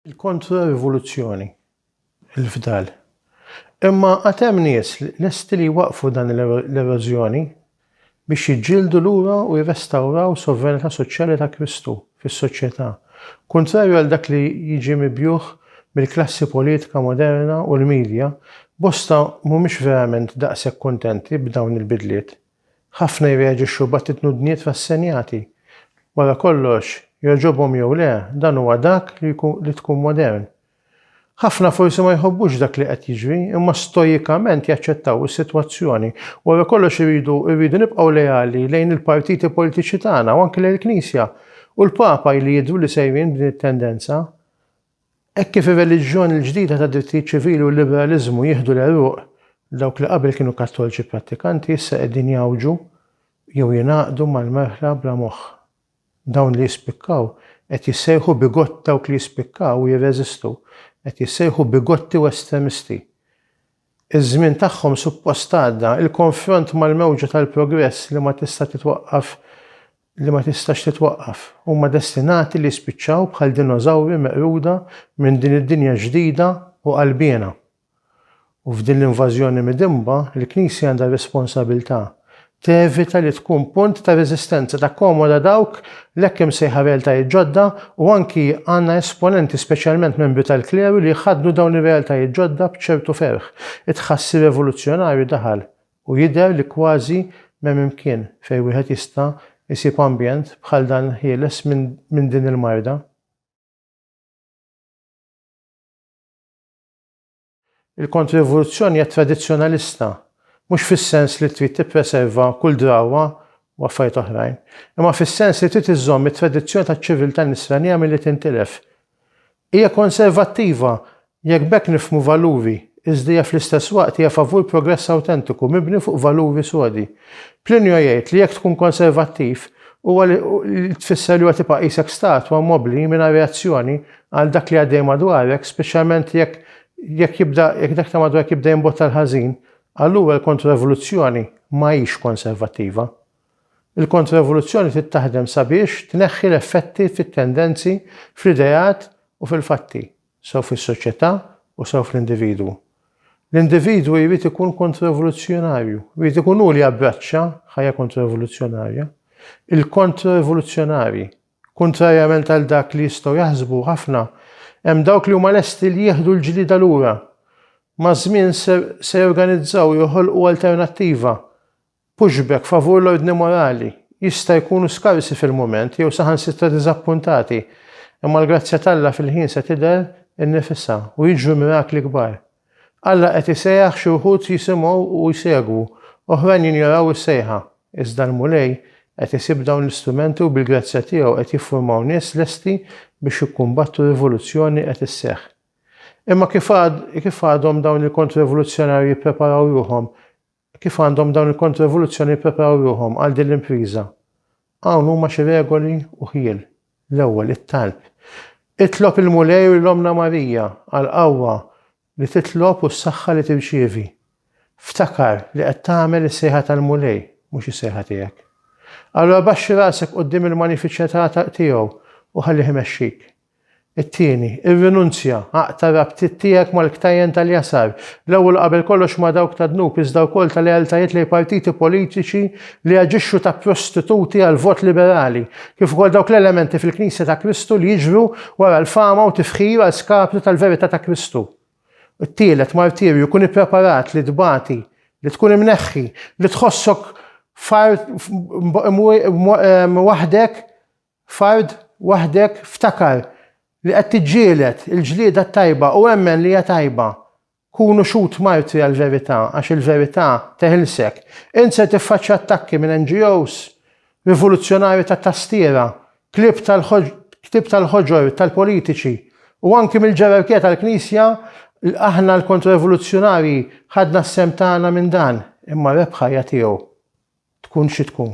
il-kontra-rivoluzzjoni, il-fdal. Imma għatem nies lesti li waqfu dan l-erożjoni biex jiġġieldu lura u jirrestawraw sovranità soċjali ta' Kristu fis-soċjetà, kuntrarju għal dak li jiġi mibjugħ mill-klassi politika moderna u l-midja, bosta mhumiex verament daqshekk kuntenti b'dawn il-bidliet. Ħafna jirreaġixxu b'attitnudnijiet rassenjati. Wara kollox, jogħġobhom jew le, dan huwa dak li tkun modern, Ħafna forsi ma jħobbux dak li qed jiġri, imma stoikament jaċċettaw is-sitwazzjoni. Wara kollox irridu irridu nibqgħu leali lejn il-partiti politiċi tagħna u anki lejn il-Knisja. U l-Papa ili jidhru li sejrin b'din it-tendenza. Hekk kif ir-reliġjon il-ġdida tad-drittijiet ċivili u l-liberaliżmu jieħdu l-għeruq, dawk li qabel kienu Kattoliċi prattikanti issa qegħdin jgħawġu jew jingħaqdu mal-merħla bla moħħ. Dawn li jispikkaw qed jissejħu bigott dawk li jispikkaw u jirreżistu qed jissejħu bigotti u estremisti. Iż-żmien tagħhom suppost għadda. Il-konfront mal-mewġa tal-progress li ma tista' titwaqqaf li ma tistax titwaqqaf. Huma destinati li jispiċċaw bħal dinożawri meqruda minn din id-dinja ġdida u qalbiena. U f'din l-invażjoni midinba, il-Knisja għandha r-responsabilità tevita li tkun punt ta' reżistenza, takkomoda dawk l-hekk imsejħa realtajiet ġodda u anki għandna esponenti, speċjalment membri tal-kleru, li jħaddnu dawn ir-realtajiet ġodda b'ċertu ferħ. It-tħassir revoluzzjonarju daħal u jidher li kważi m'hemm imkien fejn wieħed jista' jsib ambjent bħal dan ħieles minn din il-marda. Il-kontribuzzjoni hija tradizzjonalista, mhux fis-sens li trid tippreserva kull drawwa u affarijiet oħrajn, imma fis-sens li trid iżżomm it-tradizzjoni taċ-ċiviltà Nisranija milli tintilef. Hija konservattiva, jekk b'hekk nifhmu valuri, iżda hija fl-istess waqt hija favur progress awtentiku mibni fuq valuri sodi. Plinio jgħid li jekk tkun konservattiv, huwa li tfisser li huwa tibqa' qisek statwa mobli mingħajr reazzjoni Għal dak li għaddej madwarek, speċjalment jekk jekk jibda jekk dak ta' madwarek jibda jimbotta l-ħażin, allura l-kontroevoluzzjoni ma hix konservattiva. Il-kontroevoluzzjoni trid taħdem sabiex tneħħi l-effetti fit-tendenzi, fl-ideat u fil-fatti, sew fis-soċjetà u sew fl-individwu. L-individwu jrid ikun kontroevoluzzjonarju, jrid ikun hu li jabbraċċa ħajja kontroevoluzzjonarja. Il-kontroevoluzzjonarji Kuntrarjament għal dak li jistgħu jaħsbu ħafna, hemm dawk li huma lesti li jieħdu l-ġlieda lura. Maż-żmien se jorganizzaw u joħolqu alternattiva. Pushback favur l-ordni morali. Jista' jkunu skarsi fil-mument jew saħansitra diżappuntati, imma l-grazzja t'Alla fil-ħin se tidher innifisha u jiġru mirakli kbar. Alla qed isejjaħ xi wħud jisimgħu u jsegwu, oħrajn jinjoraw is-sejħa. Iżda l-Mulej qed isib dawn l-istrumenti u bil-grazzja tiegħu qed jiffurmaw nies lesti biex jikkumbattu rivoluzzjoni qed isseħħ. Imma kif kif għadhom dawn il-kontrerivoluzzjonarji jippreparaw ruħhom Kif għandhom dawn il-kontroevoluzzjoni jippreparaw ruħhom għal din l-impriża? Hawn huma xi regoli u ħjiel. L-ewwel, it-talb. Itlob il-Mulej u lill-Ommna Marija għall-qawwa li titlob u s-saħħa li tirċievi. Ftakar li qed tagħmel is-sejħa tal-Mulej, mhux is-sejħa tiegħek. Allura baxxi rasek quddiem il-manifiċjetà tiegħu u ħallih imexxik. It-tieni, irrinunzja, aqta' r-rabtiet tiegħek mal-ktajjen tal-jasar, l-ewwel u qabel kollox ma' dawk tad-dnub iżda wkoll ta' lealtajiet lejn partiti politiċi li jaġixxu ta' prostituti għall-vot liberali, kif ukoll dawk l-elementi fil-Knisja ta' Kristu li jiġru wara l-fama u tifħir għal skapitu tal-verità ta' Kristu. It-tielet, martirju, kun ippreparat li tbati, li tkun imneħħi, li tħossok f'art waħdek Fard waħdek ftakar li qed tiġġieled il-ġlieda t-tajba u emmen li hija tajba. Kunu xhud martri għall-verità għax il-verità teħilsek. Int ser tiffaċċja attakki minn NGOs, rivuluzzjonarji ta' tastiera, klieb tal-klieb tal-ħoġor tal-politiċi u anki mill-ġerarkija tal-Knisja l aħna l-kontro-rivoluzzjonarji ħadna s-sehem tagħna minn dan imma r-rebħa hija tiegħu tkun xi tkun.